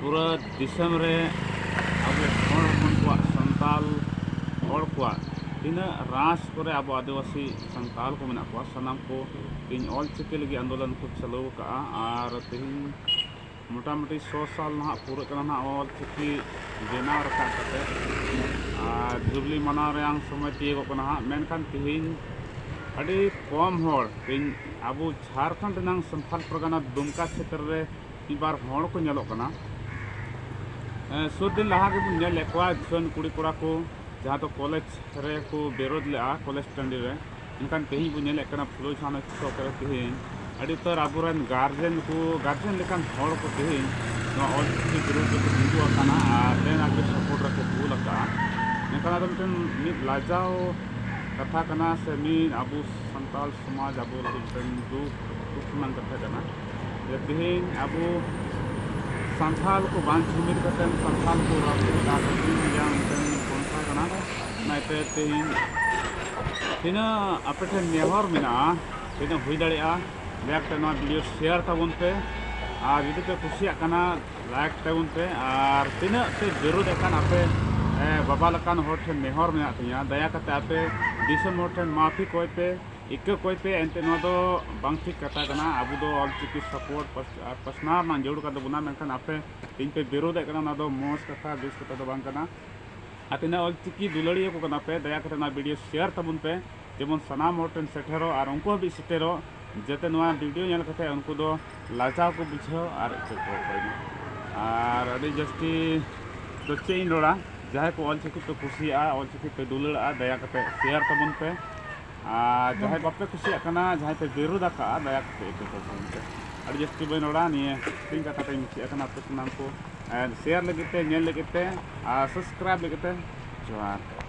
ᱯᱩᱨᱟᱹ ᱫᱤᱥᱚᱢ ᱨᱮ ᱟᱵᱚ ᱦᱚᱲ ᱦᱚᱯᱚᱱ ᱠᱚᱣᱟᱜ ᱥᱟᱱᱛᱟᱞ ᱦᱚᱲ ᱠᱚᱣᱟᱜ ᱛᱤᱱᱟᱹᱜ ᱨᱟᱥ ᱠᱚᱨᱮ ᱟᱵᱚ ᱟᱹᱫᱤᱵᱟᱹᱥᱤ ᱥᱟᱱᱛᱟᱞ ᱠᱚ ᱢᱮᱱᱟᱜ ᱠᱚᱣᱟ ᱥᱟᱱᱟᱢ ᱠᱚ ᱤᱧ ᱚᱞ ᱪᱤᱠᱤ ᱞᱟᱹᱜᱤᱫ ᱟᱱᱫᱳᱞᱚᱱ ᱠᱚ ᱪᱟᱹᱞᱩ ᱟᱠᱟᱫᱼᱟ ᱟᱨ ᱛᱮᱦᱮᱧ ᱢᱚᱴᱟᱢᱩᱴᱤ ᱥᱚ ᱥᱟᱞ ᱱᱟᱦᱟᱜ ᱯᱩᱨᱟᱹᱜ ᱠᱟᱱᱟ ᱱᱟᱦᱟᱜ ᱚᱞ ᱪᱤᱠᱤ ᱵᱮᱱᱟᱣ ᱨᱟᱠᱟᱵ ᱠᱟᱛᱮ ᱟᱨ ᱡᱩᱵᱽᱞᱤ ᱢᱟᱱᱟᱣ ᱨᱮᱭᱟᱝ ᱥᱚᱢᱚᱭ ᱛᱤᱭᱳᱜᱚᱜ ᱠᱟᱱᱟ ᱦᱟᱸᱜ ᱢᱮᱱᱠᱷᱟᱱ ᱛᱮᱦᱮᱧ ᱟᱹᱰᱤ ᱠᱚᱢ ᱦᱚᱲ ᱛᱮᱦᱮᱧ ᱟᱵᱚ ᱡᱷᱟᱲᱠᱷᱚᱸᱰ ᱨᱮᱱᱟᱝ ᱥᱟᱱᱛᱟᱞ ᱯᱟᱨᱜᱟᱱᱟ ᱫᱩᱢᱠᱟ ᱪᱷᱮᱛᱨᱚ ᱨᱮ ᱢᱤᱫᱵᱟᱨ ᱦᱚᱲ ᱠᱚ ᱧᱮᱞᱚᱜ ᱠᱟᱱᱟ ᱥᱩᱨ ᱫᱤᱱ ᱞᱟᱦᱟ ᱜᱮᱵᱚᱱ ᱧᱮᱞ ᱞᱮᱫ ᱠᱚᱣᱟ ᱡᱩᱣᱟᱹᱱ ᱠᱩᱲᱤ ᱠᱚᱲᱟ ᱠᱚ ᱡᱟᱦᱟᱸ ᱫᱚ ᱠᱚᱞᱮᱡᱽ ᱨᱮ ᱠᱚ ᱵᱤᱨᱳᱫ ᱞᱮᱫᱼᱟ ᱠᱚᱞᱮᱡᱽ ᱴᱟᱺᱰᱤ ᱨᱮ ᱢᱮᱱᱠᱷᱟᱱ ᱛᱮᱦᱮᱧ ᱵᱚᱱ ᱧᱮᱞᱮᱫ ᱠᱟᱱᱟ ᱯᱷᱩᱞᱳ ᱡᱷᱟᱱᱚ ᱪᱚᱠ ᱨᱮ ᱛᱮᱦᱮᱧ ᱟᱹᱰᱤ ᱩᱛᱟᱹᱨ ᱟᱵᱚᱨᱮᱱ ᱜᱟᱨᱡᱮᱱ ᱠᱚ ᱜᱟᱨᱡᱮᱱ ᱞᱮᱠᱟᱱ ᱦᱚᱲ ᱠᱚ ᱛᱮᱦᱮᱧ ᱱᱚᱣᱟ ᱚᱞ ᱪᱤᱠᱤ ᱵᱤᱨᱳᱫ ᱨᱮᱠᱚ ᱛᱤᱸᱜᱩ ᱟᱠᱟᱱᱟ ᱟᱨ ᱞᱮᱱ ᱟᱜᱮ ᱥᱟᱯᱳᱨᱴ ᱨᱮᱠᱚ ᱠᱩᱞ ᱟᱠᱟᱫᱼᱟ ᱢᱮᱱᱠᱷᱟᱱ ᱟᱫᱚ ᱢᱤᱫᱴᱮᱱ ᱢᱤᱫ ᱞᱟᱡᱟᱣ ᱠᱟᱛᱷᱟ ᱠᱟᱱᱟ ᱥᱮ ᱢᱤᱫ ᱟᱵᱚ ᱥᱟᱱᱛᱟᱲ ᱥᱚᱢᱟᱡᱽ ᱟᱵᱚ ᱞᱟᱹᱜᱤᱫ ᱢᱤᱫᱴᱮᱱ ᱫᱩᱠ ᱫᱩᱠ ᱨᱮᱱᱟᱜ ᱠᱟᱛᱷᱟ ᱠᱟᱱᱟ ᱛᱮᱦᱮᱧ ᱟᱵᱚ ᱥᱟᱱᱛᱟᱲ ᱠᱚ ᱵᱟᱝ ᱡᱩᱢᱤᱫ ᱠᱟᱛᱮ ᱥᱟᱱᱛᱟᱲ ᱠᱚ ᱥᱚᱝᱥᱛᱷᱟ ᱠᱟᱱᱟ ᱚᱱᱟᱛᱮ ᱛᱮᱦᱮᱧ ᱛᱤᱱᱟᱹᱜ ᱟᱯᱮ ᱴᱷᱮᱱ ᱱᱮᱦᱚᱨ ᱢᱮᱱᱟᱜᱼᱟ ᱛᱤᱱᱟᱹᱜ ᱦᱩᱭ ᱫᱟᱲᱮᱭᱟᱜᱼᱟ ᱫᱟᱭᱟ ᱠᱟᱛᱮ ᱱᱚᱣᱟ ᱵᱷᱤᱰᱤᱭᱳ ᱥᱮᱭᱟᱨ ᱛᱟᱵᱚᱱ ᱯᱮ ᱟᱨ ᱡᱩᱫᱤ ᱯᱮ ᱠᱩᱥᱤᱭᱟᱜ ᱠᱟᱱᱟ ᱞᱟᱭᱤᱠ ᱛᱟᱵᱚᱱ ᱯᱮ ᱟᱨ ᱛᱤᱱᱟᱹᱜ ᱯᱮ ᱵᱤᱨᱳᱫᱮᱫ ᱠᱟᱱ ᱟᱯᱮ ᱵᱟᱵᱟ ᱞᱮᱠᱟᱱ ᱦᱚᱲ ᱴᱷᱮᱱ ᱱᱮᱦᱚᱨ ᱢᱮᱱᱟᱜ ᱛᱤᱧᱟᱹ ᱫᱟᱭᱟ ᱠᱟᱛᱮ ᱟᱯᱮ ᱫᱤᱥᱚᱢ ᱦᱚᱲ ᱴᱷᱮᱱ ᱢᱟᱯᱷᱤ ᱠᱚᱭ ᱯᱮ ᱤᱠᱟᱹ ᱠᱚᱭᱛᱮ ᱮᱱᱛᱮᱫ ᱱᱚᱣᱟ ᱫᱚ ᱵᱟᱝ ᱴᱷᱤᱠ ᱠᱟᱛᱷᱟ ᱠᱟᱱᱟ ᱟᱵᱚ ᱫᱚ ᱚᱞ ᱪᱤᱠᱤ ᱥᱟᱯᱳᱨᱴ ᱟᱨ ᱯᱟᱥᱱᱟᱣ ᱨᱮᱱᱟᱜ ᱡᱟᱹᱨᱩᱲ ᱠᱟᱱ ᱛᱟᱵᱚᱱᱟ ᱢᱮᱱᱠᱷᱟᱱ ᱟᱯᱮ ᱛᱮᱦᱮᱧ ᱯᱮ ᱵᱤᱨᱳᱫᱮᱫ ᱠᱟᱱᱟ ᱚᱱᱟ ᱫᱚ ᱢᱚᱡᱽ ᱠᱟᱛᱷᱟ ᱵᱮᱥ ᱠᱟᱛᱷᱟ ᱫᱚ ᱵᱟᱝ ᱠᱟᱱᱟ ᱟᱨ ᱛᱤᱱᱟᱹᱜ ᱚᱞ ᱪᱤᱠᱤ ᱫᱩᱞᱟᱹᱲᱤᱭᱟᱹ ᱠᱚ ᱠᱟᱱᱟ ᱯᱮ ᱫᱟᱭᱟ ᱠᱟᱛᱮ ᱱᱚᱣᱟ ᱵᱷᱤᱰᱤᱭᱳ ᱥᱮᱭᱟᱨ ᱛᱟᱵᱚᱱ ᱯᱮ ᱡᱮᱢᱚᱱ ᱥᱟᱱᱟᱢ ᱦᱚᱲ ᱴᱷᱮᱱ ᱥᱮᱴᱮᱨᱚᱜ ᱟᱨ ᱩᱱᱠᱩ ᱦᱟᱹᱵᱤᱡ ᱥᱮᱴᱮᱨᱚᱜ ᱡᱟᱛᱮ ᱱᱚᱣᱟ ᱵᱷᱤᱰᱤᱭᱳ ᱧᱮᱞ ᱠᱟᱛᱮ ᱩᱱᱠᱩ ᱫᱚ ᱞᱟᱡᱟᱣ ᱠᱚ ᱵᱩᱡᱷᱟᱹᱣ ᱟᱨ ᱤᱠᱟᱹ ᱠᱚ ᱚᱠᱚᱭ ᱟᱨ ᱟᱹᱰᱤ ᱡᱟᱹᱥᱛᱤ ᱫᱚ ᱪᱮᱫ ᱤᱧ ᱨᱚᱲᱟ ᱡᱟᱦᱟᱸᱭ ᱠᱚ ᱚᱞ ᱪᱤᱠᱤ ᱯᱮ ᱠᱩᱥᱤᱭᱟᱜᱼᱟ ᱚᱞ ᱪᱤᱠᱤ ᱯᱮ ᱫᱩᱞᱟᱹᱲᱟᱜᱼᱟ ᱫᱟᱭᱟ ᱠᱟᱛᱮ ᱥᱮᱭᱟᱨ ᱛᱟᱵᱚᱱ ᱯᱮ ᱟᱨ ᱡᱟᱦᱟᱸᱭ ᱵᱟᱯᱮ ᱠᱩᱥᱤᱭᱟᱜ ᱠᱟᱱᱟ ᱡᱟᱦᱟᱸᱭ ᱯᱮ ᱵᱤᱨᱳᱫ ᱟᱠᱟᱫᱼᱟ ᱫᱟᱭᱟ ᱠᱟᱛᱮ ᱤᱠᱟᱹ ᱠᱚ ᱥᱟᱶᱛᱮ ᱟᱹᱰᱤ ᱡᱟᱹᱥᱛᱤ ᱵᱟᱹᱧ ᱨᱚᱲᱟ ᱱᱤᱭᱟᱹ ᱦᱩᱰᱤᱧ ᱠᱟᱛᱷᱟ ᱛᱮᱧ ᱢᱩᱪᱟᱹᱫ ᱟᱠᱟᱱᱟ ᱟᱯᱮ ᱥᱟᱱᱟᱢ ᱠᱚ ᱥᱮᱭᱟᱨ ᱞᱟᱹᱜᱤᱫ ᱛᱮ ᱧᱮᱞ ᱞᱟᱹᱜᱤᱫ ᱛᱮ ᱟᱨ ᱥᱟᱵᱥᱠᱨᱟᱭᱤᱵᱽ ᱞᱟᱹᱜᱤᱫ ᱛᱮ ᱡᱚᱦᱟᱨ